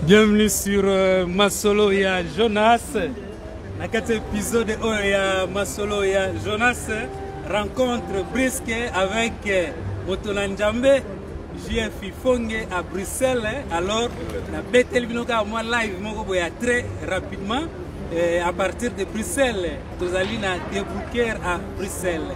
Bienvenue sur euh, Masolo ya Jonas. Na kati épisode oyo ya Masolo ya Jonas, rencontre brisque avec euh, Motola Njambe, JF Fonge à Bruxelles. Alors, na beteli bino kaka mwa live moko boya très rapidement euh, à partir de Bruxelles. Tozali na débouquer à Bruxelles.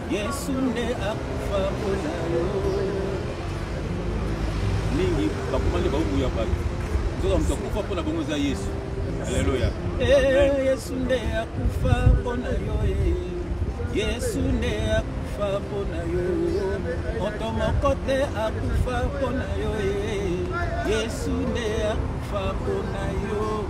Yesu nde akufa mpo na yo. Mingi bakoma nde baobuya bato. Nzoka moto akufa mpo na bongo eza Yesu. Aleluya. Eh, Yesu nde akufa mpo na yo. Eh. Yesu nde akufa mpo na yo. Moto moko te akufa mpo na yo. Eh. Yesu nde akufa mpo na yo.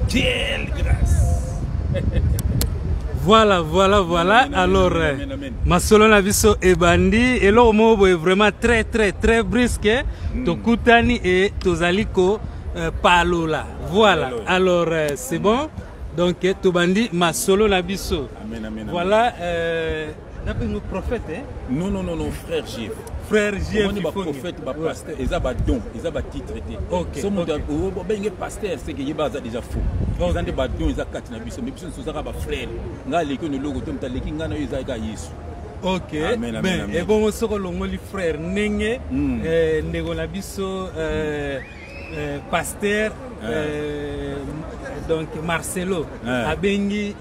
Quelle grâce voilà voilà voilà alors euh, masolo na biso ebandi eloko moko boye vraiment très très très brusque hein. hmm. tokutani e tozali kopalola euh, voilà alors euh, c'est bon donc tobandi masolo na biso voilà euh, napingo prophète eh? non non non non frère jf frère jf omoni baprophète bapasteur eza badon eza batitre te so moto obenge pasteur seke yeba aza déjà faux eza nde badon eza kati na biso me biso nyonso ozaka bafrère ngai aleki ono eloko te moto aleki ngai na yo eza eka yesu ok ben ebongo soko olongoli frère ndenge hmm. eh, ndeko na biso eh, eh, pasteur ah. donc marcelo ah. abengi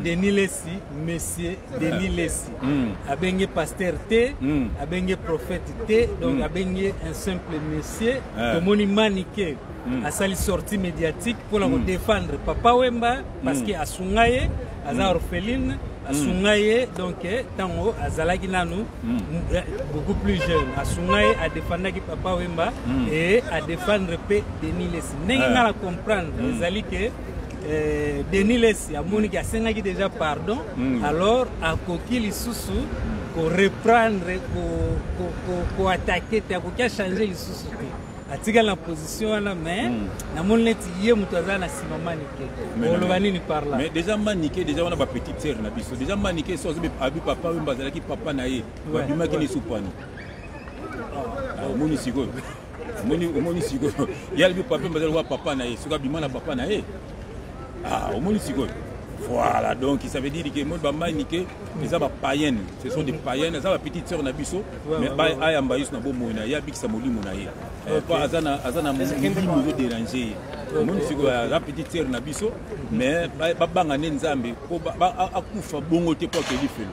Denis Lessi, monsieur Denis Lessi. Mm. Abenge pasteur T, mm. abenge prophète T, donc mm. abenge un simple monsieur. Yeah. Tomoni manike. Mm. asali sortie médiatique mpona mm. kodefendre papa wemba parce mm. que asunga ye aza mm. orpheline asunga mm. ye donc ntango eh, azalaki nanu mm. eh, beaucoup plus jeune asunga ye adefandaki papa wemba mm. e adefendre mpe denis lesi ndenge nga na comprendre ezali ke eh, denis lesi amoniki asengaki déjà pardon mm. alors akoki lisusu koreprendre koatake te akoki achange lisusu te atikali na position wana mais hmm. namoni neti ye moto aza na nsima manike oloba nini par là mais déjà manike déjà wana bapetite sere na biso déjà manike so abi papa oyo bazalaki papa na ye babimaki na esupani omoni ah, sikoyo omoni omoni sikoyo ye alibi pape mbazali wa papa na ye soki abima na papa na ye ah, omoni sikoyo voilà donc ça veut dire que moi bamani ke eza ba païenne ce sont des païennes eza ba petite sœur na biso mais ba ayamba yesu na bomoi na ye abikisa molimo na ye eh, po aza na aza na molimo ezo dérange ye omoni sikoyo aza petite sœur na biso mais babanga nde nzambe po akufa bongo te po akeli felo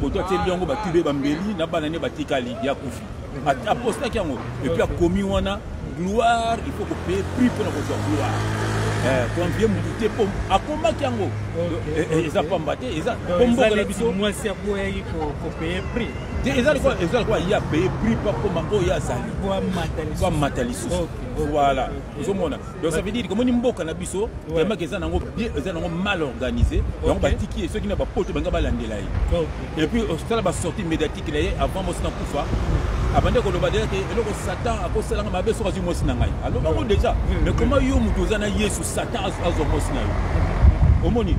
koto atieli yango batube bambeli na bana ne batikali ya kufi apostaki yango epuis akomi wana gloire il faut kopeye prix mpona kozwa gloire eh, konvie motu te mpo akomaki yango eh, eh, eza pamba te eza mpo mboka na biso mwasi akoyaki kopeye prix te eza lokola eza lokola ye apeye prix mpo akoma oyo azali po amata lisusu voilà ozomona donc ça veut dire komoni mboka na biso vraiment eza nango bien eza nango mal organisé donc batiki ye soki na bapoto banga balandela ye et puis osala basortie médiatique na ye avant mosi na kufa abandi koloba deja te eloko satan akosalanga mabe soki azwi mwasi na ngai aloba yango deja mais koma yo moto oza na yesu satan azwa mwasi na yo omoni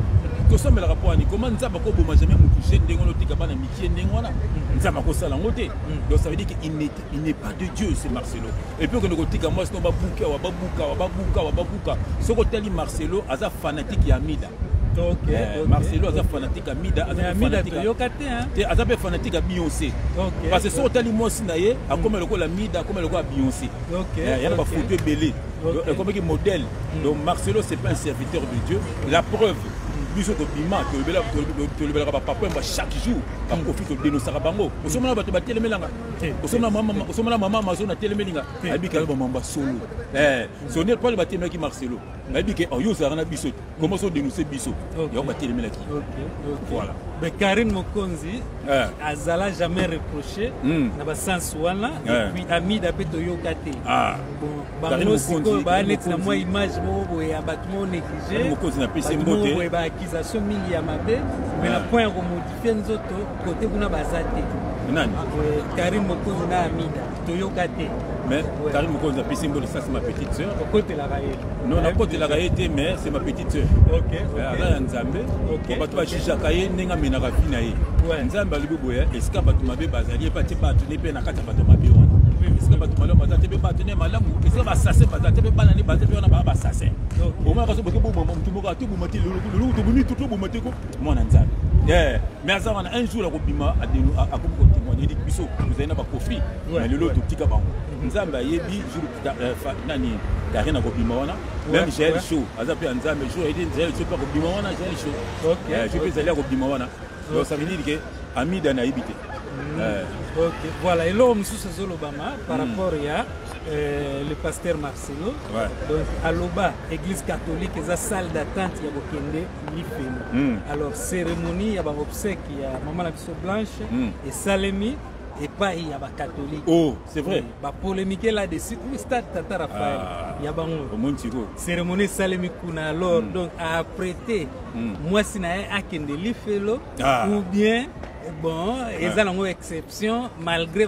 tosambelaka mpo wani koma nzambe akoboma jamais motu je ndenge wana otika bana mikie ndenge wana nzambe akosala yango te donc ça veut dire qu'il n'est pas de dieu c'est marcelo epuis okende kotika mwasi no babuki awa babuka awa babuka awa babuka soki otali marcelo aza fanatike ya mida Okay, eh, okay, marcelo aza okay. fanatique ya mida azayoka te te aza mpe fanatique ya beyonce okay, parce que soki otali mwasi na ye hmm. akoma lokola mida akoma lokola beyonce okay, eh, yana okay. bafoto ebele okay. ekomaki modèle mm. donc marcelo c'est pas un serviteur de dieu la preuve biso tobima tolobelaka bapapa yamba chaque jour bakofi todenosaka bango osomona bato batelemelanga osomana mama amazon atelemeli nga ayebi kaka bamamba solo eh, sonel pale batelemaki marcelo nayebi ke oh, yo ozalaka na biso koma so denonse biso yango batelemelaki voilà mais karine mokonzi eh. azala jamais reproché hmm. na basens wana eh. epuis amida mpe toyoka te ah. bango sikoyo baa neti na mwa image moko boye ya bato moko néglige bato moko boye baaccusation mingi ya mabe mais na point ya komodifie nzoto kote kuna baza te nani karim mokonzi na amida toyoka te mais karim mokonzi apesi mboli sasi ma petite sœur okotelaka ye non nakotelaka ye te mais c'est ma petite sœur eh, aza ya nzambe bato bajijaka ye ndenge amenaka vi na ye nzambe alobi boye esika bato mabe bazali ye mpe atie bato ne mpe na kati ya bato mabe wana esika bato malamu baza te mpe bato ne malamu esika basase baza te mpe bana ne baza mpe wana baa basase omaka so boke boboma motu moko atoboma te loloko tobumi to toboma te ko mwana nzambe eh, mais aza wana un jour akobima akomi kotemoigne edi biso tozali na bakofi na lelo totika bango mhm. nzambe ayebi jour euh, nani karine akobima wana meme jael show aza mpe ya nzambe jour ayedi jael show mpe akobima wana jael show jour eh, mpe ezali akobima wana donc ça veut dire ke amida nayebi te mhm. eh. ok voilà eloko mosusu ezolobama par mhm. rapport ya Euh, le pasteur Marcelo. Ouais. Donc, Aloba, église catholique, eza salle d'attente ya bokende lifelo mm. alors cérémonie ya baobsèque ya mama na biso blanche mm. esalemi epai ya bakatolike oh, c'est vrai bapolémike là dessus oui, stade tata raphaël ah, ya bango cérémonie esalemi kuna alors mm. donc aprete mm. mwasi na ye akende lifelo ah. ou bien bon eza ah. nango exception malgré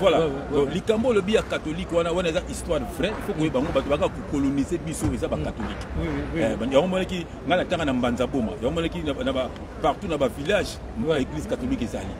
voilà donc likambo olobi ya catholique wana wana eza histoire vrai fo koyeba yango bato baka kokolonise biso eza bacatholique eh, yango monaki ngai natanga na mbanza boma yango monaki partout na bavillage église catholique ezali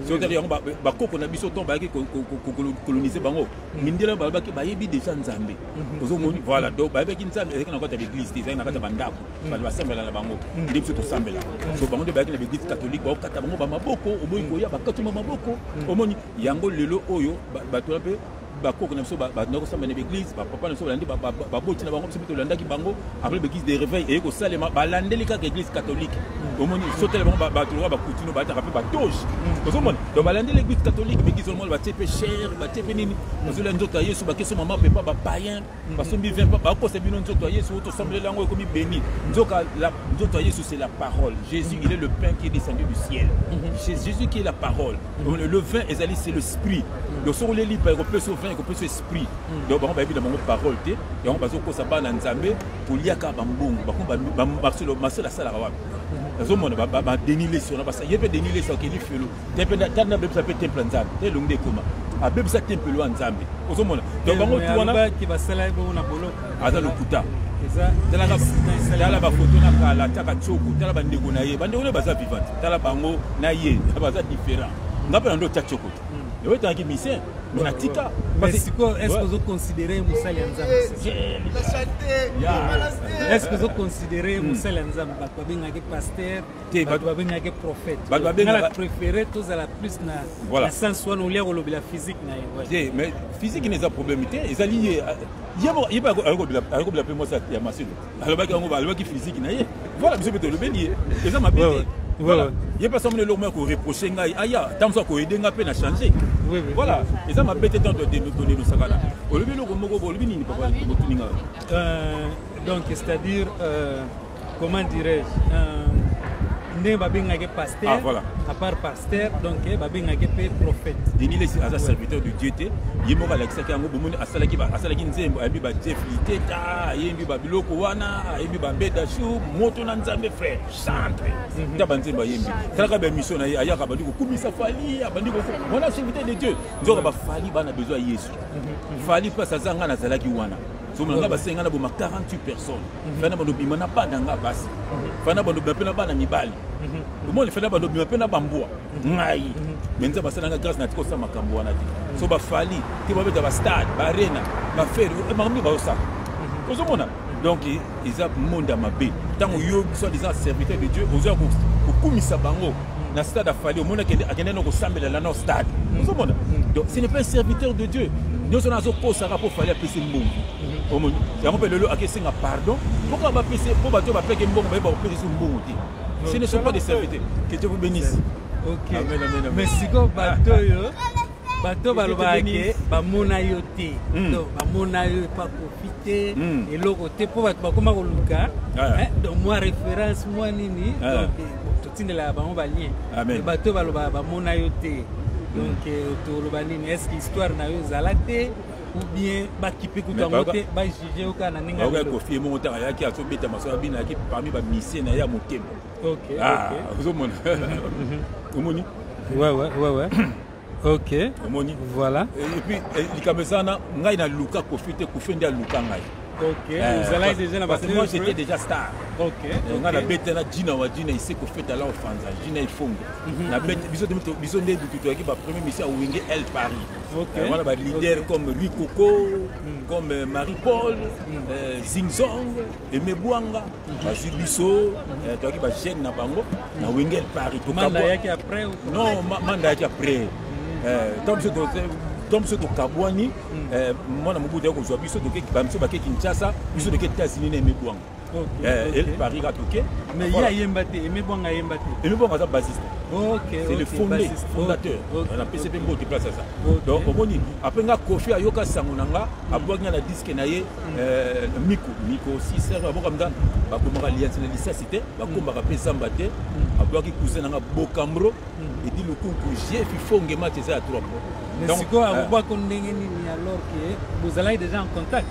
sotaki yango bakoko na biso ntango bayaki kokolonise bango mm. mindele balobaki bayebi déjà nzambe mm-hmm. ozomoni mm-hmm. voilà donc bayebaki nzambe ezalaki na kati ya baeglise te ezalaki na kati ya bandako mm. bato basambela na bango mm. nde biso tosambela so bango nde bayaki na baeglise catholique baokata bango bamaboko oboyi koya bakatuma maboko omoni yango lelo oyo bato wana mpe bakoko na biso bandaki kosamba na baeglise bapapa na biso balandi baboti na bango biso mpe tolandaki bango après baeglise de réveil eye kosalema balandeli kaka église catholique mm. omoni sotele bango bato lokola bakutino bataka mpe batoge mm. ozomona donc balandeli église catholique baeglise omona batie mpe chere batie mpe nini ozolya nzoto ya yesu bakesomama mpe pa bapayen basombi vin mpo bakosa bino nzoto ya yesu oyo tosombeleli yango ekomi beni nzoka nzoto ya yesu c'est la parole jésus il est le pain qui est descendu du ciel mhm. c'est jésus qui est la parole mhm. le vin ezali c'est le sprit mhm. donc soki oleli mpa ekopesa vin ekopesa esprit donc bango bayebi na bango parole te yango bazokosa bana nzambe koliaka bambongo bakoma masolo asalaka wapi nazomona badeni lesi wana ye mpe deni lesi akeli felo tana abebisa mpe temple ya nzambe te elongi nde ekoma abebisa tempelo ya nzambe ozomona to bango tuwanaaza lokuta tala bafoto na kala taka tsoko tala bandeko na ye bandeko na ye baza vivante tala bango na ye baza différent nga mpe na ndo otya tsoko te hmm. ewe etangaki misien mais natika sikoyo estce ozoconsidere mosali ya nzambeestce ozoconsidere mosali ya nzambe bato babengaki paster te bato babengaki prophète bato babengaka préféré tozala plus na voilà. na sens wana olia kolobela physique na ye voilà. te mais physique ina eza problème te ezali ye ye mpe ayokobela mpe mwasi ya masino alobaki yango alobaki physique na ye voilà biso mpe tolobeli ye eza mabe te voilà. ye mpe asamona eloko moko koreproche ngai aya ntango mosusu akoyede ngai mpe na change voilà eza mabe te ntango todenosakana olobi eloko moko olobi nini papa motuni ngai donc c'est à dire euh... comment dirais-je euh, ndenge babengaki pasteur ah, voilà. à part pasteur donc eh, babengaki mpe prophète denis lesi aza serviteur de dieu te ye moko alakisaki yango bomoni asalaki asalaki nzembo ayebi bajeff liteta ayembi babiloko wana ayembi bambeda sur moto na nzambe frère chantre mhm. ta banzembo ayembi talaka baémission na ye ayaka abandi kokumisa fali abandi wana serviteur de dieu nzoka bafali bana besoin ya yesu mhm. fali place aza ngai nazalaki wana somo nanga basi ngai naboma 48 personnes mhm. fana bando bima na bana nga basi mhm. fana bando bima mpe na bana mibali mhm. omoni fana bando bima mpe na bambwa ngai me nzambe asala nga grâce na tika osala makambo wana te so bafali te babeta bastade baarena bafere eh, makambo nini bazosala ozomona donc eza monde ya mabe ntango yo soit disant serviteur de dieu ozoya kokumisa bango na stade ya fali omoni akende na kosambela lana stade mm. ozomona mm. donc ce n'est pas un serviteur de dieu nyonso na azokosaka mpo fali apesi mbongo mm-hmm. omoni yango mpe lelo akesenga pardon mpoka bapesi mpo bato oyo bapeke mbongo bayeba kopesa biso mbongo te ce ne sont pas des serviteurs que dieu vous bénisse ok amen amen amen mais sikoyo bato oyo bato balobaka ke bamona yo te hmm. donc bamona yo epa kofi te hmm. eloko te mpo bato bakoma koluka ah. eh, donc mwa référence mwa nini ah. donc tindelaka bango balien bato oyo balobaka bamona yo te donc euh, toloba nini est ce que histoire na yo ezala te ou bien bakipe kutu yango te bajuge yo kaka na ndenge okoki kofi ye moko ntango ayaki azobeta masolo abina ayaki parmi bamisie na ye ya motema ozomona omoni ok omoni voilà et puis eh, likambo eza wana ngai naluka kofi te kofi nde aluka ngai Okay. Euh, vous allez déjà parce que moi j'étais déjà star. Okay. Donc okay. na beta na Gina wa Gina ici ko feta la ofanza Gina ifongo. Mhm. Na beta biso de mito biso nde bitu toki ba premier mission au Wenge El Paris. Okay. Voilà euh, ba leader comme Ricocco, mhm. comme euh, Marie Paul, mhm. Zing Zong, Aimé Bouanga bazwi biso eh, toyaki bagene na bango na wengel paris manda yaki après non manda yaki après ntango biso to biso tokabwani mwana mobutu ya kozwa biso biso bake kinshasa biso toke états-unis na aimé Bouanga eh, paris kaka toke mais ye ayemba te aimé Bouanga ayemba te aimé Bouanga aza basiste c'est le fondé fondateur na pesi mpe mbote place aza donc omoni après nga kofi ayoka sango na nga abwaki nga na diske na ye Eh, miko miko sister baboka mda bakomaka liyansi na lisasi te bakombaka mpe zamba te mm. aboyaki cousin nanga bokamro mm. edi lukunku jefi fonge match eza ya trop sikoyo akobwako eh. ndenge nini alors ke bozalaki déjà en contact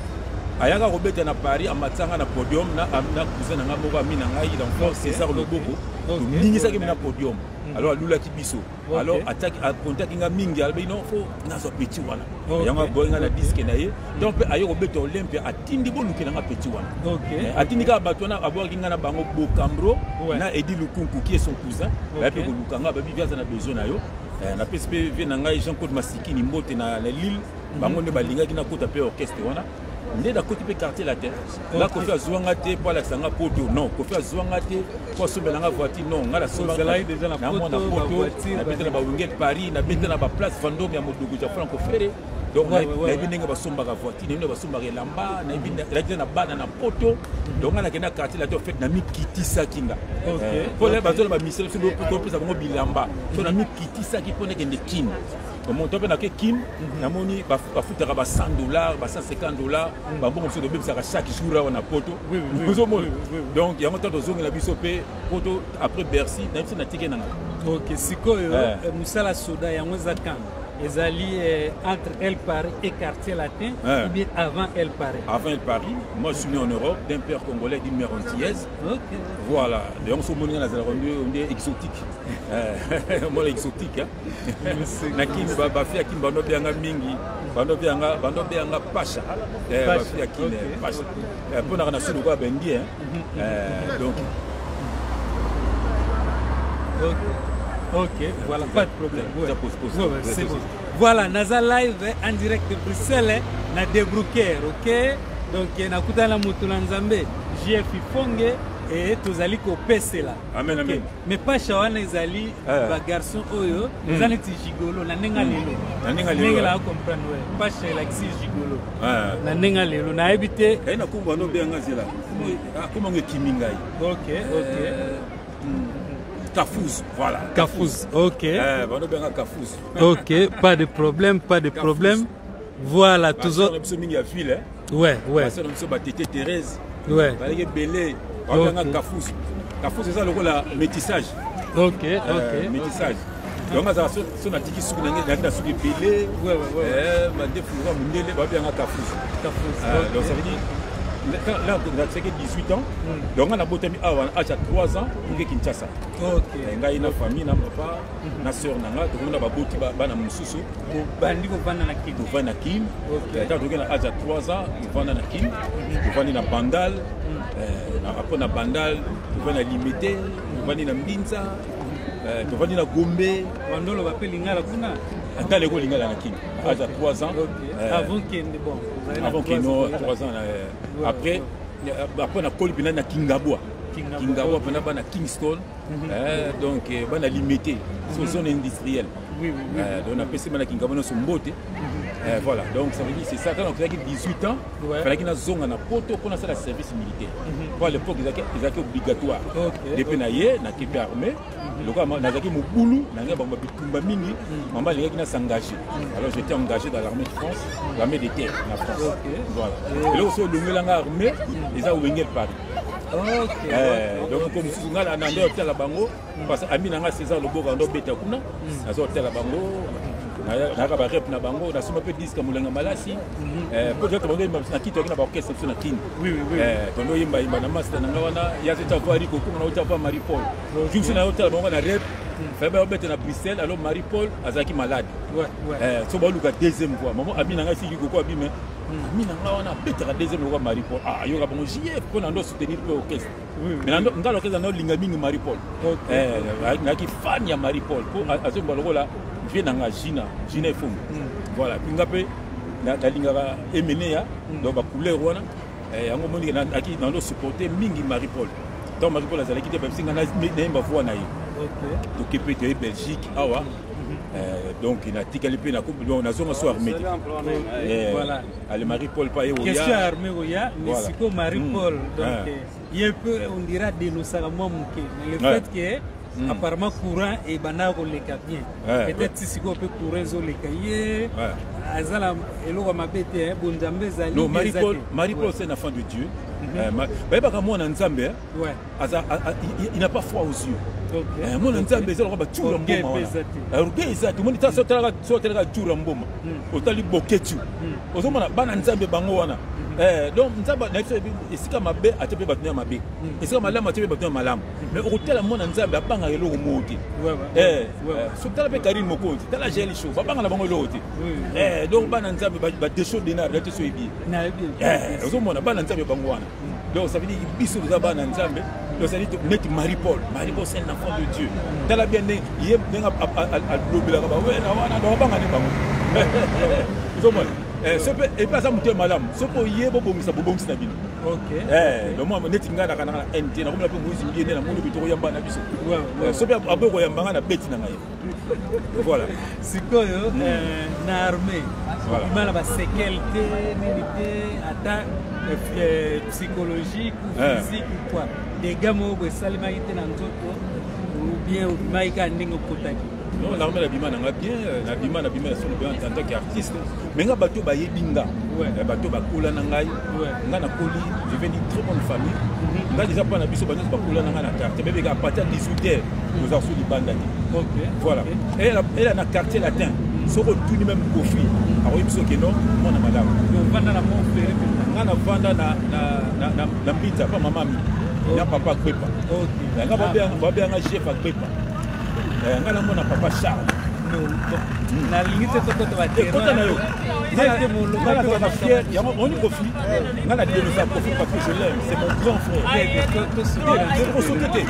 ayaka kobeta na paris amatisanga na podium na cousin nanga moko ami na ngai na france césar loboko toningisaki mi na podium mm. alors alulaki biso okay. alors ataki akontaki nga mingi alobi non fo nazwa petit wana okay. yango aboyi nga na diske na ye donc mpe aye kobeta olympia atindi bolukela nga petit wana okay. Eh, atindi kaka bato wana aboyaki nga na bango bokambro ouais. na edi lukunku qui est son cousin okay. baye mpe koluka nga babi viaza na besoin na yo eh, napesi mpe vie na ngai jean claude masikini mbote na, na lille mhm. bango nde balingaki nakota mpe orchestre wana nde nakoti mpe quartier latin nga kofi azwa nga te mpo alakisa nga poto non kofi azwa nga te mpo asombela nga voiture non nga nasombanaamona poto nabeta na bawingel paris nabeta na baplace vandome ya modugu ja franco fere donc nayebi ndenge basombaka voiture nayebi ndenge basombaka elamba nayebi elaki na bana na poto donc nga nakenda quartier latin ofete namikitisaki nga mpo bazola bamisele biso topesa bango bilamba so namikitisaki mpo nakende kine moto ape nake kin mhm. namoni bafutaka ba 100 dollar ba 150 dollar mhm. bambongo mosusu tobebisaka chaque jour awa na poto ozomona donc yango ntango tozongela biso mpe poto après bercy na biso natike nanga ok sikoyo eh. Eh, mosala soda yango eza kanga ezali eh, entre El Paris et quartier latin hein. ou bien avant El Paris Avant El Paris, moi je suis né en Europe d'un père congolais d'une mère antillaise. Okay. Voilà, donc ce monde là, on est exotique. Moi exotique hein. na kin bafi ya kin bando bianga mingi bando bianga bando bianga pasha eh, bafi ya kin eh, pasha eh, mpo naka na sudi okoya bengi mhm. donc ok voilà pas de problème c'est bon voilà naza live en direct de bruxelles na debrouquer ok donc nakutana na moto na nzambe jf ifonge e tozali kopesela amen amen mais pasha wana ezali eh. ba garçon oyo hmm. eza neti gigolo na ndenge hmm. lelo na ndenge lelo ndenge la comprendre ouais pasha elakisi gigolo eh. na ndenge lelo nayebi te kai na kumba no be nga zela akoma ngo ekimi ngai ok ok eh, hmm. Kafous, voilà. Kafous, ok. Eh, bano benga Kafous. ok, pas de problème, pas de problème. Voilà, toujours. Hein. ouais ouais basi na biso ba tete Thérèse ouais balaki belé babanga kafusu kafusu eza lokola métissage ok euh, ok métissage donc azala so natiki suki nange nayaki na suki ebele mandefu lokola mondele babanga kafusu euh, donc ça veut dire là natisaki 18 ans hmm. donc nga nabotami awa na age ya 3 ans oke kinshasa eh, ngai na famille na papa na sœur na nga tokomi na baboti bana mosusu bandi kovanda na kin tovanda na kin ata toki na age ya 3 ans tovanda na kin tovandi na bandal apres eh, na bandal tovandi na limete tovandi na mbinza eh, tovandi na gombe bandolo bape lingala kuna ata leko lingala na kin age ya 3 ans eh, avant kende bon avant kino 3 ans après après nakoli mpena na kingabwa kingabwa mpena bana kingston Eh, donc eh, bana limite mhm. zone industrielle eh, donc napesi bana kingabo nyonso mbote mhm. voilà donc ça veut dire c'est ça ntango nakozalaki 18 ans falaki nazonga na poto mpo nasala service militaire mhm. mpo à l'époque ezalaki obligatoire nde mpe na ye nakende armée lokola nazalaki mobulu na ngai bango bitumba mingi mama alingaki na s'engage alors j'étais engagé dans l'armée de france l'armée de terre na france voilà eloko so olongela ngai armée eza wengel paris donc ko mosusu ngai na nde otala bango parce ami na ngai césar loboka ndo obeta kuna naza otala bango nayaka barep na bango nasomba mpe diske molenga malasi mpo toyaka bango yemba na kiti yaki na baorchestre biso na kini tondo yemba yemba na masta na ngai wana ya te tava riko kuma na otava marie paul jumsi na otala bango na rep fayeba yobeta na bruxelles alors marie paul azalaki malade so baoluka deuxième voix mama abi na ngai siki koko abime ami na nga wana abetaka deuxième lokola marie paul ah, ayoka bango jf mpo na ndo soutenir mpe orchestre mais nga orchestre na olinga mingi marie paul eh, nayaki fan ya marie paul mpo mm. azomba lokola vie na nga gina gina efumu mm. voilà mpe nga mpe nalingaka emeneya mm. donc bacouleur wana eh, yango omoni naki nando supporte mingi marie paul ntango marie paul azalaki te babisi nga nayemba voi na ye tokepe toye belgique awa Euh, donc natikali mpe nazonga so armé te eh, ale marie paul pa ye question ya armé oya mais sikoyo marie hmm. paul donc ah. euh, ye mpe on dira denosaka mwa moke mais le fait que Mm. apparemment courant ebandaka koleka bien ouais, peut-être ouais. sikoyo mpe courant ezoleka ye azala eloko mabe te bonzambe ezali marie paul se na fin de dieu mhm. euh, bayebaka mwana nzambe Ouais. Aza, a, a, il, il n'a pas froid aux yeux. Okay. Eh, mona nzambe eza lokola bacura mboma wana eh, orgueil eza te omoni tala so otalaka cura mboma hmm. otali boketu hmm. ozomona bana nzambe bango wana hmm. eh, donc nzambe na biso esika mabe ate mpe bato ya mabe esika malamu ate mpe bato ya malamu mais okotala mwana nzambe abangaka eloko moko te so tala mpe karine mokonzi tala gel show babanga na bango eloko te donc bana nzambe badesho denar date so ebi ozomona bana nzambe bango wana donc ça veut dire biso toza bana nzambe tozali neti marie paul marie paul c'est l'enfant de dieu tala bien ndenge ye ndenge alobelaka bawena wana donc abanga nde bango ozomona eh, soki mpe epe aza moto ya malamu soki oye bobongisa bobongisi na bino eh, lomwa neti ngai nakanaka na nd nakomela mpe moizi mbiye nde namoni bitoko yamba na biso eh, soki mpe aboyi koyamba ngai na beti na ngai Voilà. Sikoyo mm. euh, na armée voilà. imana ba séquelles te nini te ata euh, euh, psychologique ou eh. physique ou quoi dégâts moko boye esalemaki te na nzoto ou bien obimaki kaka ndenge okotaki non l'armée nabima nanga bien nabima nabima na solo bien en tant qu'artiste me nga bato bayebi nga eh, bato bakola na ngai nga nakoli je vais dire très bonne famille mhm. nga deja mpa na biso banyonso bakola na ngai na quartier bebeka apati ya 18 heure tozala so libanda te voilà ela na quartier latin mhm. soki otuni meme kofi mhm. akoyebi biso keno mwana malamu nga navanda na mbita mpa mamami na papa kwepa nga babeyanga chef akwepa nga namona papa charles nalingi te tokota bakota na yo yango oni kofi nga na denonsa kofi parce que je l'aime c'est mon grand frère osoki te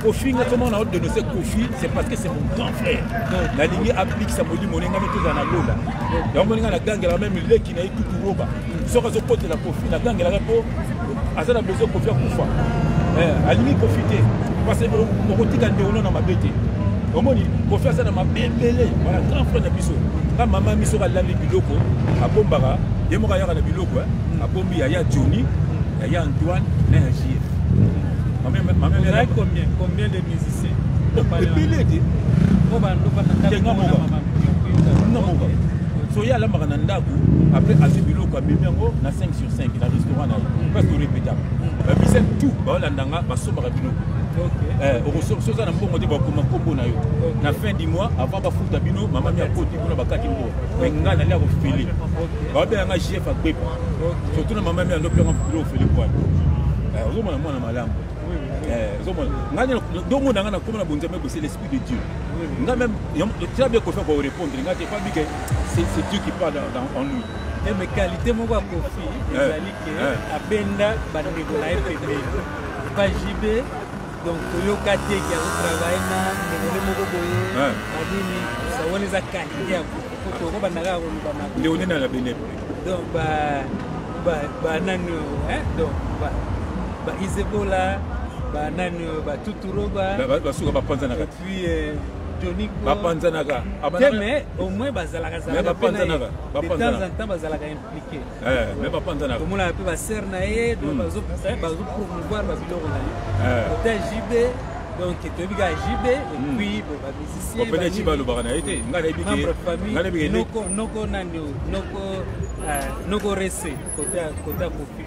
kofi nga tomona o denonse kofi c'est parce que c'est mon grand frère nalingi abikisa molimo ne nga mitozala na lola yango moninga na gangela meme leki na ye tuturoba soki azokotela kofi nagangelaka mpo aza na besoin kofi akufa eh, alingi kofi te parce okotika ndeono na mabe te omoni kofi aza na mabe ebele wana grand frère na biso nga mama mi soki alali biloko abombaka ye moko ayaka na biloko eh. abombi yaya joni yaya antoine na ya jf combien de musicien ebele te nga moka soki alambaka na ndako après azwi biloko amemi yango na 5 sur 5 na restaurant na ye parce que repétable babisa tout baolanda nga basombaka biloko eh, okosoki oza na mbongo te bakoma nkombo na yo na fin du mois avant bafuta bino mama mi akoti kuna bakati mbongo mai ngai nali akofele baobela nga jf agbepa surtout na mama mi andopelanga bilo ofele bwana eh, ozomona mwana malamu eh, ozomona ngai dongo na ngai nakoma na bonzambe bose l'esprit de dieu ngai meme tela bia kofa korepondre ngai te pabike c'est c'est Dieu qui parle dans, dans, en nous eh, mais qualité moko ya kofi eh, ezali ke eh. abenda bandeko na ye pembeni pa jb donc toyoka te ke azotravaille na ndekole moko boye anini wana eza qualité ya tokobanda kaka koloba na leone na labene donc banani donc baisebola banani batuturoba basuka bapanzanaka puis euh, Johnny Ko bapanzanaka te mais au moins bazalaka zalaka bapanzanaka bapanzanaka de temps en temps bazalaka impliqué eh mais bapanzanaka tomona pe ba sœur na ye donc hmm. bazo eh, bazo promouvoir ba biloko na ye eh. ota JB donc toyebi kaka JB et hmm. puis bon ba musiciens opene JB alobaka na ye te ngai nayebi ke ngai nayebi ke noko noko nani noko euh, noko rese kota kota kofi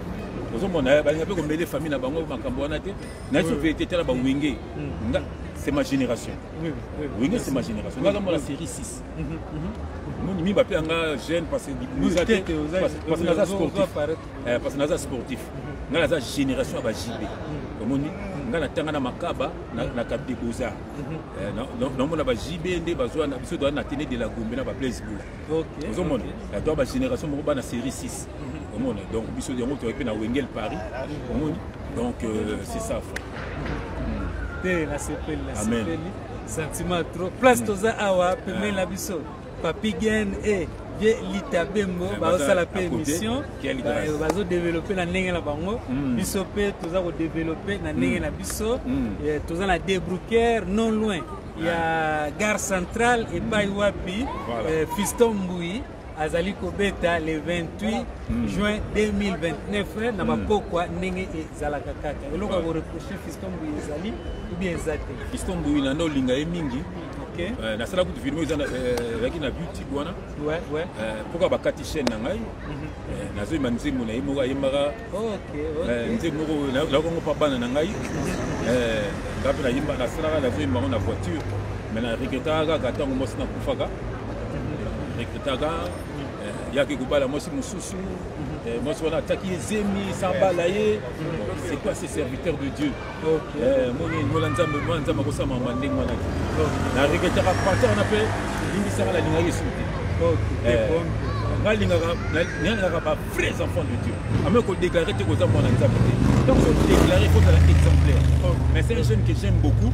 ozomona balinga mpe komele famille na bango makambo wana te naye so verité tala bawenge c'est ma génération wenge c'est ma génération nga namona série 6 moni mi bape yanga jeune parce que naza sportif eh, parce que naza sportif nga naza génération ya bajibe omoni nga natanga na makaba na cap de beaux-arts namona bajibe nde bazwa na biso toa na tene de la gombe na baplaiseboula ozomona ya to bagénération moko bana série 6 mhm. omona donc biso yango toyaki mpe na wengel paris mhm. omoni donc euh, c'est ça fa hmm. te nasepeli nasepeli sentiment trop place hmm. toza awa pemeli na ah. biso papi gen e eh, vie lita bembo eh, bazosala mpe émission bazodeveloppe na ndenge na bango hmm. biso mpe toza kodeveloppe na ndenge na biso eh, toza na debrouquer non loin ya gare centrale epai wapi voilà. eh, fiston mbui azali kobeta le 28 mm. juin 2029 na bapokwa mm. ndenge ezalaka kaka eloko ya koreproche fiston mbui ezali ubie eza te fiston mbui nanda olinga ye mingi okay. uh, eh, nasala kutu filme ezalaki eh, na butike wana mpoka bakati chaîne na ngai mhm. eh, nazoyemba nzembo na ye moko ayembaka Eh, nzembo moko nayoki yango mpa bana na ngai eh, nga mpe nayimba nasalaka nazoyimba yango na voiture me na regretaka kaka ntango mwasi nakufaka regretaka eh, yaki kobala mwasi mosusu mwasi wana ataki ye zemi sambala ye c'est quoi ce serviteur de dieu Eh, moni ngola nzambe mwana nzambe akosala mama ndenge wana te nareketaka parti wana mpe limbisaka nalingaki esu te eh, nalingaka ba vrais enfants de dieu ame kodeklare te koza mwana nzambe te donc odeklare kozala exemplaire mais c'est un jeune que j'aime beaucoup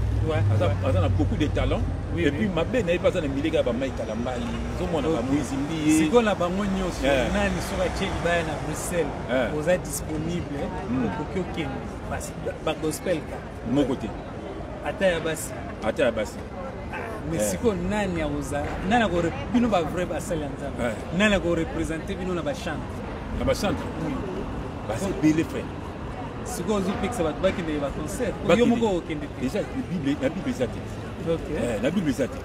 aza na beaucoup de talent et puis mabe na ye mpe aza na mileka ya bamai kalambai ozomona bamoise mbiye sikoyo na bango nyonso eh. nani soki atie libaya na bruxelles oza disponible hmm. okoki okende basi ba gospel ka moko te ata ya basi ata ya basi ah, mais eh. sikoyo nani akozala nani ako bino ba vrai basali ya nzambe eh. nani akorepresente bino na bachante na bachante basi ebele frère sikoyo ozopekisa bato bakende ba concert yo moko okende te eza na bible eza te eh, na bible eza te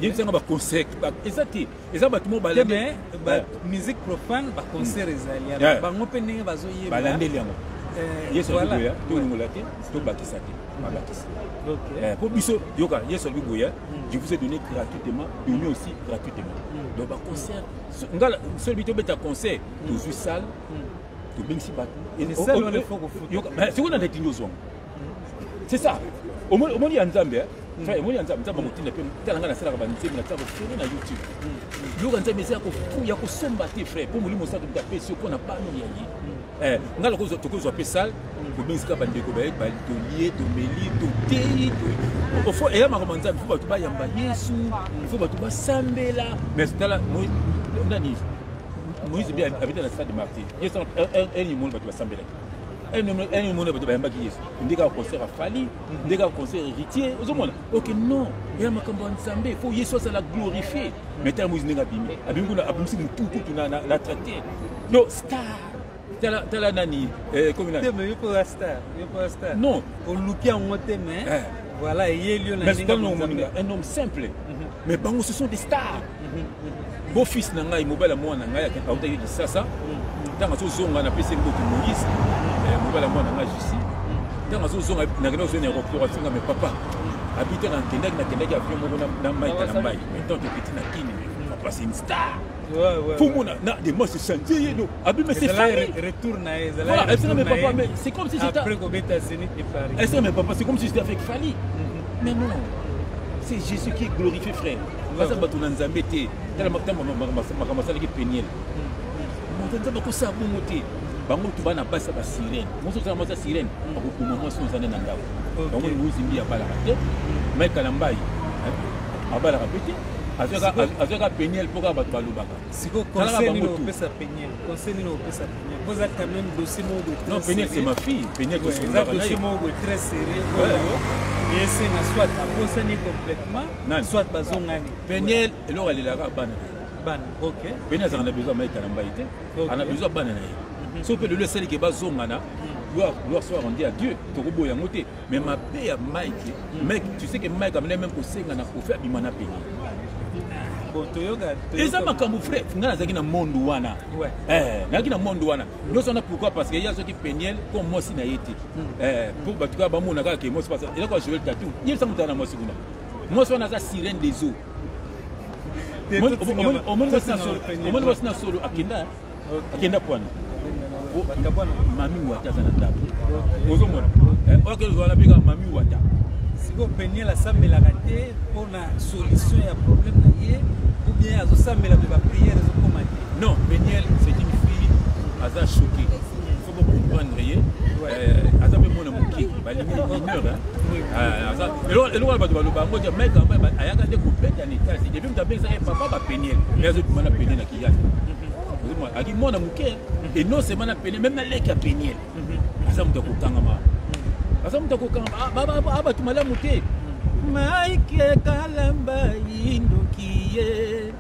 yebisanga baconcert eza te eza bato mo balandi mais ba eh. musique profane ba concert hmm. ezali ya eh. bango mpe ndenge bazoyeba balandeli yango eh, yesu alobi boya tolongola te tobakisa te babakisa mpo biso yoka yesu alobi boya hmm. je vous ai donné gratuitement donné aussi gratuitement hmm. donc baconcert nga sobi tobeta concert tozwi salle tobengisi bato sikoyo na ndakindi ozwango c'est ça omoni ya nzambe eh? mm. frère omoni ya nzambe nzambe akotinda mpe tala ngai nasalaka banzembe natia kofere na youtube mm. yoka nzambe eza ya kosomba te frère mpo molimo osato moto apesi yo mpo na bano ya ye mm. eh, ngai lokola tokozwa mpe sale kobengisaka bandeko baye tolie tomeli toteyi ofo eya makambo ya nzambe fo bato bayamba yesu fo bato basambela mais tala nani moïse mpe abeta na stade martyr yesu elimoni bato basambelaki ene mona bato bayambaki yesu ndeka concert afali ndeka concert héritier ozomona ok non eya makambo ya nzambe fo yesu azala glorifie mais tala moïse ndenge abimi abimi kuna abimisi motu kutu na traite donc star tala tala nani eh, komi nani non oluki yango te mais eh. Voilà, eyeli na ndenge ya Nzambe. Un homme simple. Mhm. Mais bango ce sont des stars. Mhm, mhm. Beau fils na ngai, mobala mwana na ngai akenda auta yo Kinshasa. Tanga so zonga na pese mboki Moïse. Eh, mobala mwana na ngai Jussi. Tanga so zonga na kenda zo na aéroport atinga mais papa. Abita na kendaki na kendaki avion moko na na mai na mai. Mais tant que petit na kini, papa c'est une star. Fumo na na de moi c'est chanté et donc abi mais c'est famille retour na et voilà est-ce que mes papa mais c'est comme si c'était après Gobeta Zénith et Paris est-ce que mes papa c'est comme si c'était avec Fally mm-hmm. mais non c'est Jésus qui est glorifié frère baza bato na nzambe te tala makambo makambo asalaki peniele mm-hmm. moto nzambe akosala bongo te bango tu bana basi ba sirene moso tala mwasi ya sirene mm. akokoma mwasi oyo ozande na ndako bango liwuzi mbi abalaka te mm. mai kalambai eh, abalaka mpe te azwaka peniel mpo kaka bato balobaka sikoyo conseil nini opesa peniel conseil nini opesa peniel mpo eza quand même dossier moko boye non peniel c'est ma fille peniel eza dossier moko boye très sérieux oyo esenga soit abosani complètement soit bazongani peniel eloko alelaka bana bana ok peniel azalaka na besoin ya maita na mbai te ana besoin ya bana na ye mhm. so mpe lelo esalike bazongana gloire soit rendue à dieu tokoboya yango te Mais ma paix à Mike, mec, tu sais que Mike a même conseillé à Kofi Abima na pays. eza makambo frai ngai nazalaki na monde wana eh, nazalaki na monde wana nyonso wana pourquoi parce que ye azwaki peniel comme mwasi na ye te hmm. eh, po bato kaka bamona kaka ke mwasi pasa eloko ya joel tatu ye esa motala na mwasi kuna mwasi wana aza sirene des eaux omoni mwasi na solo akenda akenda pwana mami wata aza na ndako ozomona eh, oyo akenda ozala bika mami wata sikoyo peniel asambelaka te mpo na solution ya problème na ye ou bien azosambela mpe baprière ezokoma te non peniel c'est une fille aza choquée comprendre ye eh, aza mpe mwana moke balingi mineur eh, eloko na bato baloba yango te mike yango ayaka nde kobeta na etage epi moto abengisaka ye papa bapenie e azobima na penie na kiyaki aki mwana moke e non seulement na penie meme na leki ya penie aza moto ya kokangama aza moto ya kokangama abatu malamu te mike kalamba indoki ye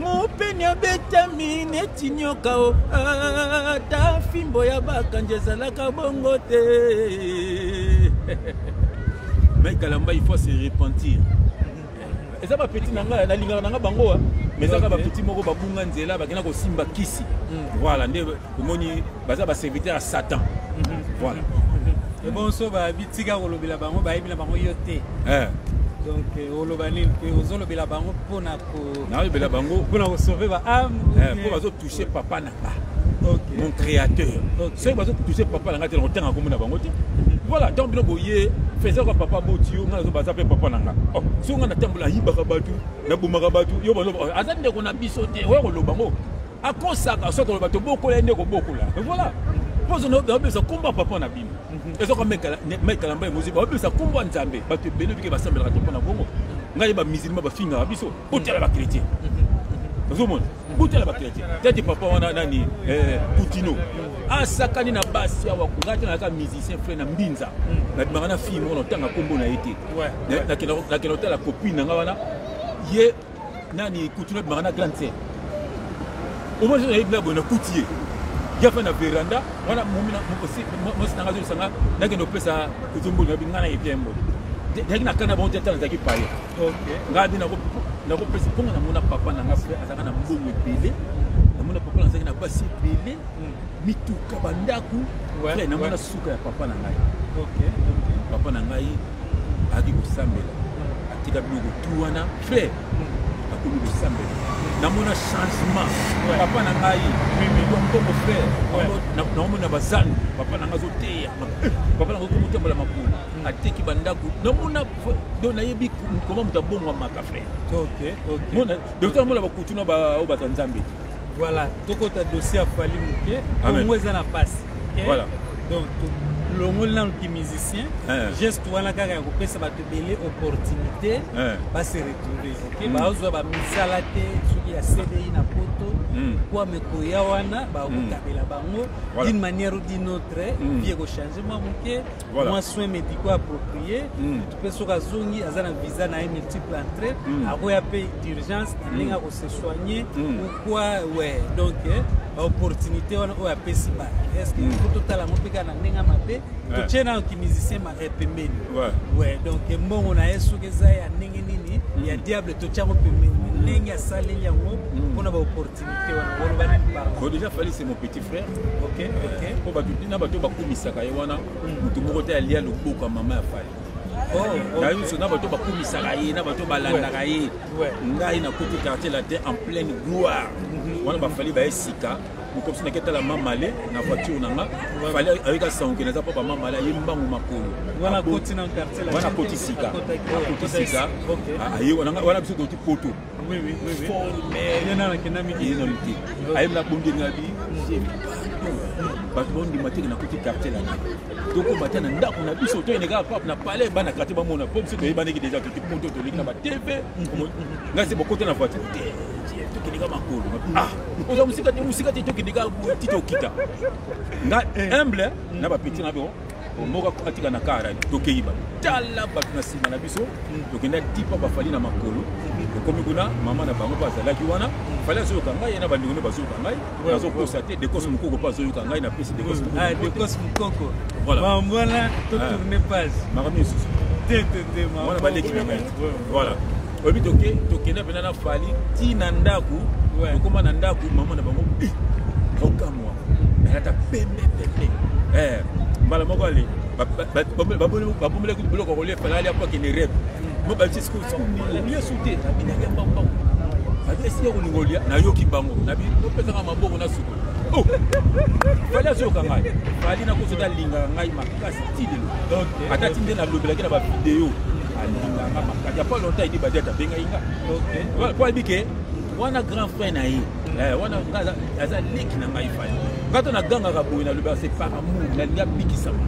mopeni abetami neti nyoka o ata fimbo ya bakanji ezalaka bongo te mai kalamba il faut se repentir eza bapeti na ngai nalingaka na ngai bango wa mais ezaka bapeti moko babunga nzela bakenda kosimba kisi mm. voilà nde omoni baza baserviteur ya satan mm-hmm. voilà ebonso babitika kolobela bango bayebi na bango yo te eh. donc eh, oloba nini mpe ozolobela bango mpo na nayebela bango mpo na kosauve ba ame eh, mpo bazotouche papa na nga mon créateur soki bazotouche papa na nga te nakotanga komona bango te voilà donc bino boye faiseur ya papa boti yo ngai baza mpe papa na nga oh, soki ngai natambola ayibaka bato nabomaka bato yo baloba aza ndeko na biso te oya koloba ngo akosaka soit oloba tobokola ye nde kobokola voilà pozo babebisa nkombo ya papa na bino mhm. ezoka mekala mbai moziba babebisa nkombo ya nzambe bato ebele bike basambelaka te mpo na bongo ngai bamisilima bafingaka biso kotala bakretien mhm. ozomona botala bakretien tete papa wana nani eh, putino asakani na basi awa ngai te nayaka musicien frai na mbinza mhm. nabimaka na fille moko na ntanga nkombo na ye te nakenda kotala copine na ngai wana ye nani kutula ebimaka na grande sere omoni soki nayebi na boye nakuti ye ye afai na veranda wana mosi nanga azosanga nakende kopesa kutumbulu nayebi ngai nayebi ye mboli yaki na kana bango te ata nazalaki paye ngai nde nakopesa mponga namona papa na ngai fre azalaka na mbongo ebele namona papa na azalaki na basi ebele hmm. mituka bandako fre namona suka ya papa na ngai papa na ngai ayaki kosambela atika biloko tu wana frère akomi kosambela namona changement papa na ngai mimilio mboko frère naomona bazani papa na ngai azoteya papa na ngai komotambola makolo hmm. ateki bandako namona do nayebi koma moto abongwamaka frère mona dokta namona bakutuna baoyo baza nzambe te Voilà, tokota dossier ya Fally Muke, Congo eza na passe. Okay? Voilà. Donc longoli nanu ki musicien eh. geste wana kaka ya kopesa bato ebele opportunité eh. base retrouve oke mm. bazwa bamisala te soki ya cdi na poto mm. kwa mekoya wana bakokabela mm. bango d'une manière ou d'une autre vie ekochange mwa moke Voilà. mwa soin médicaux approprié Mm. mpe soki azongi aza na visa na ye multiple entrée Mm. akoya mpe d'urgence ndenge ako se soigner Mm. ou quoi ouais donc eh, baopportunité wana oyo apesi bato est ce que Mm. faut totala yango mpe kaka na ndenge ya mabe Ouais. totie nano kimusicien ma- eh, pembeni Ouais. ouais donc eh, mbongo na ye soki eza ya ndenge nini ya diable totie yango pembeni ndenge asaleli yango mpona baopportunité wana boloba nini pardon Bon, déjà, Fally, c'est mon petit frère ok ok po bato na bato bakumisaka ye wana moto moko te alia loboka mama ya fali oh, na nyonso na bato bakumisaka ye na bato balandaka ye ngai nakuti quartier latin en pleine gloire mhm. wana bafali baye sika mokomisi nake tala mamale na voiture na nga fali ayoki asango ke naza papa mamale aye mbangu makolo wana akoti sika akoti sika aye wana biso toti poto Oui, oui, oui, oui. Formel. Yena na kenda miki. Yena miki. Ayem na bonde na bi. Bato bondi matiki na kuti quartier la. Toko bata na ndako na biso to eneka pap na palais bana quartier ba mona pop siko yeba niki déjà tuki poto to liki na ba TV. Nga se bokote na voiture. Tuki nika makolo. Ah, oza musika te musika te tuki nika tito kita. Nga humble na ba petit na bo. moko atika na kara tokeyi ba tala bato na nsima na biso tokenda tipa bafali na makolo tokomi kuna mama na bango bazalaki wana fali azoyoka ngai ye na bandeko nde bazoyoka ngai nazokosa te dekos mokoko mpe azoyoka ngai na pesi dekos mokoko voilà makambo mosusu wana baleki na ngai voilà oyebi toke tokenda mpena na fali ti na ndako tokóma na ndako mama na bango eh, okamwa alata pembe pembe eh, mbala moko ale babomelaki biloko kolia efalali apo akende rep mo balisi sikolia su te abinaki mbambao aza esika kolinga olia nayoki bango opesaka maboko na suku oh! fali azoyoka ngai fali nakozoda alingaka ngai makasi ti lelo ata ti nde nalobelaki na bavideo alingaka nga makasi ya pas longtemps edi badiate abengaki nga po ayebi ke wana grand frère na ye eh, wana aza leki na ngai fali ngai to nagangaka boye nalobaka se par amour nalingi abikisama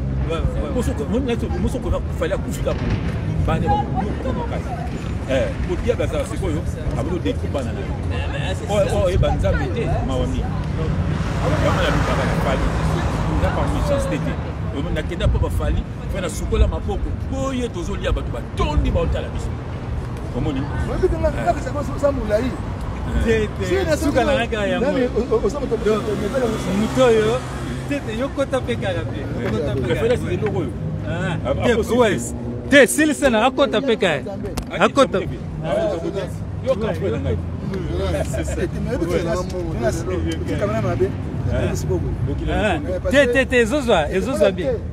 moso okoka fali akufika boye bane bakoyoka makasi eh, kodia bazala sikoyo abodo dekubana na yo oyo oyeba nzambe te mawa mingi yango nalukaka na fali eza par méchanceté te nakenda mpo bafali mpe nasukola maboko boye tozolia bato batondi baotala biso omoni molai suka na kaka yango moto oyo tete yo kota mpe kaka te eloko oyo te silisa na akota mpe kaya akota yoka mpe na ngai te te te ezozwa ezozwa bien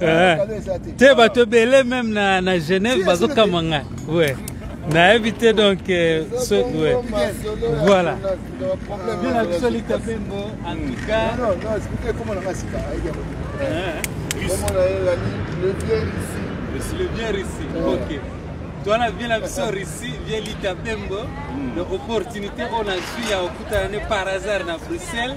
Eh, te bato ebele meme na, na genève bazokama nga ouais. nayebi te donc euh, so, ouais. voilà bina biso litabembo en tout cas le bien russi ok twana vie na biso russie vie litabembo na opportunité oyo nazwi ya kokutana ne par hasard na bruxelles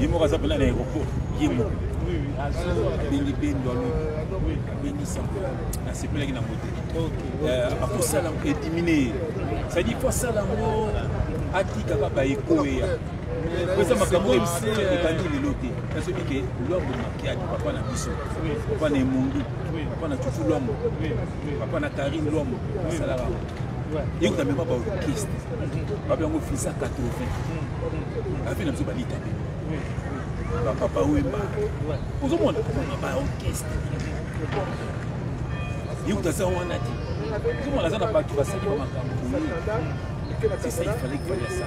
ye moko aza mpena na aéroport ye moko abengi bendo alo abengi sango nasepelaki nango te euh, akosala yango edimine ye cestadire fo asala yango atikaka baekoya eza makambo oyo ebandi lelo te nasoki ke lwambo makiadi papa na biso papa na emongi papa na cucu lwambo papa na karine lwambo asalaka yeko na mema baorchestre babe yango visa 80 avi na biso balita te bapapa wemba ozomona komona baorchestre yeko taza wana te ozomona aza na bato basali ba makambo boye c'est ça il fallait que fallait ça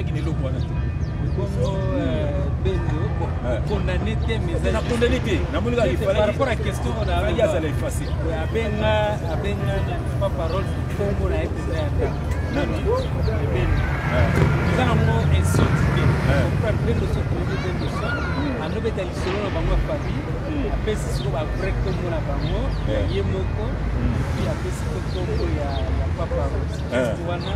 eloko wana te bongo beto condamné te mais na condamné te namoni kaka ifale par rapport à question on a ya zala effacer abenga abenga na pas parole kombo na epesa ya ta non non ebeni eza na ngo insulte te par beto so ko beto so ando beta lisolo na bango fabi apesi siko ba vrai kombo na bango ye moko puis apesi kombo ya ya papa rose wana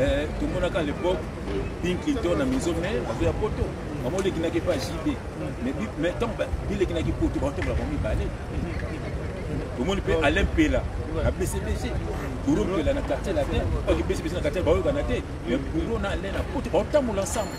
Eh, tomonaka lepoke bin clinton na miso mai bato ya poto bango olekinaki epa jb mai ntango bilekinaki poto baotambola bango mibale omoni mpe alain mpela na bcbg buro mpela na quartier latin oki bcbg na quartier baoyokana te mai buro na alain na poto baotambola ensemble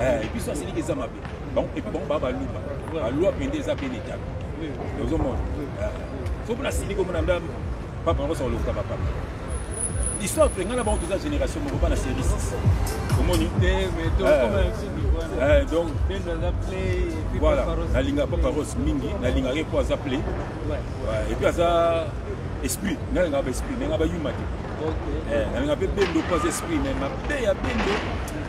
eh, biso asiliki eza mabe et puis bango baa baluba balwa mpenza eza mpe letabe ozomona eh, soki mpo nasiliki omona nda papa yango osa kolokuta bapapa histoire mpe ngai na bango toza génération moko bana série 6 omoni eh, eh, donc voilà nalinga papa rose mingi nalingaka ye mpo aza play epuis aza esprit ngai nalingaka ba esprit nalingaka bayuma te nalingaka mpe bendo mpo aza esprit me mabe ya bendo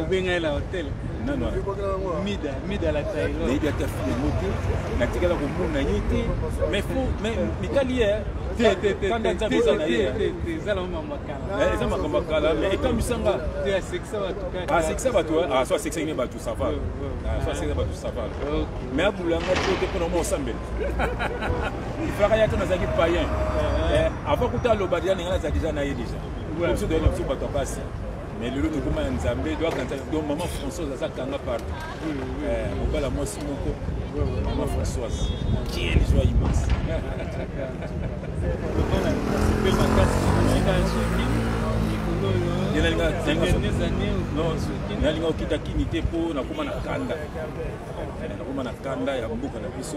obenga ye na hotel nano mida mida la tailo nayebi ata fi yango te natikala komona ye te mais fo mais mitali ye kanda nzambe eza na ye eza makambo ya kala mais ekamwisa nga asekisa bato so asekisaki ne bato sava so asekisa bato sava mais abula nga to te mpona mwa osambela ifaka ya to nazalaki payen avant kuta aloba deja ninga naza deja na ye deja biso toyena biso bato ya basi mais lelo tokoma ya nzambe doakanta donc maman françoise aza kanga partout eh, mobala mwasi moko maman françoise kiel joie immense nalinga okita kini te mpo nakoma na kanda nakoma na kanda ya mboka na biso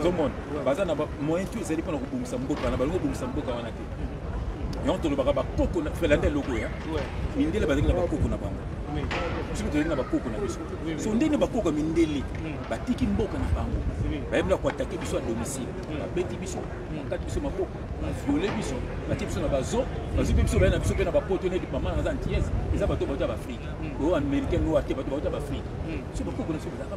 ozomona baza na moyen tu ezali mpona kobongisa mboka wana balingi kobongisa mboka wana te yango tolobaka bakoko felanda eloko ya mindele bazali na bakoko na bango biso tozali na bakoko na biso so ndenge bakoko ya mindele hmm. batiki mboka na bango bayebi na koatake biso ya domicile hmm. babeti biso hmm. bakati biso maboko bafiole biso batie biso na bazo bazwi mpe biso baye na biso mpe na bapoto neti mama naza antillaise eza bato bato ya baafrike oyo américain noir te bato bato ya baafrike so bakoko na biso bazalaka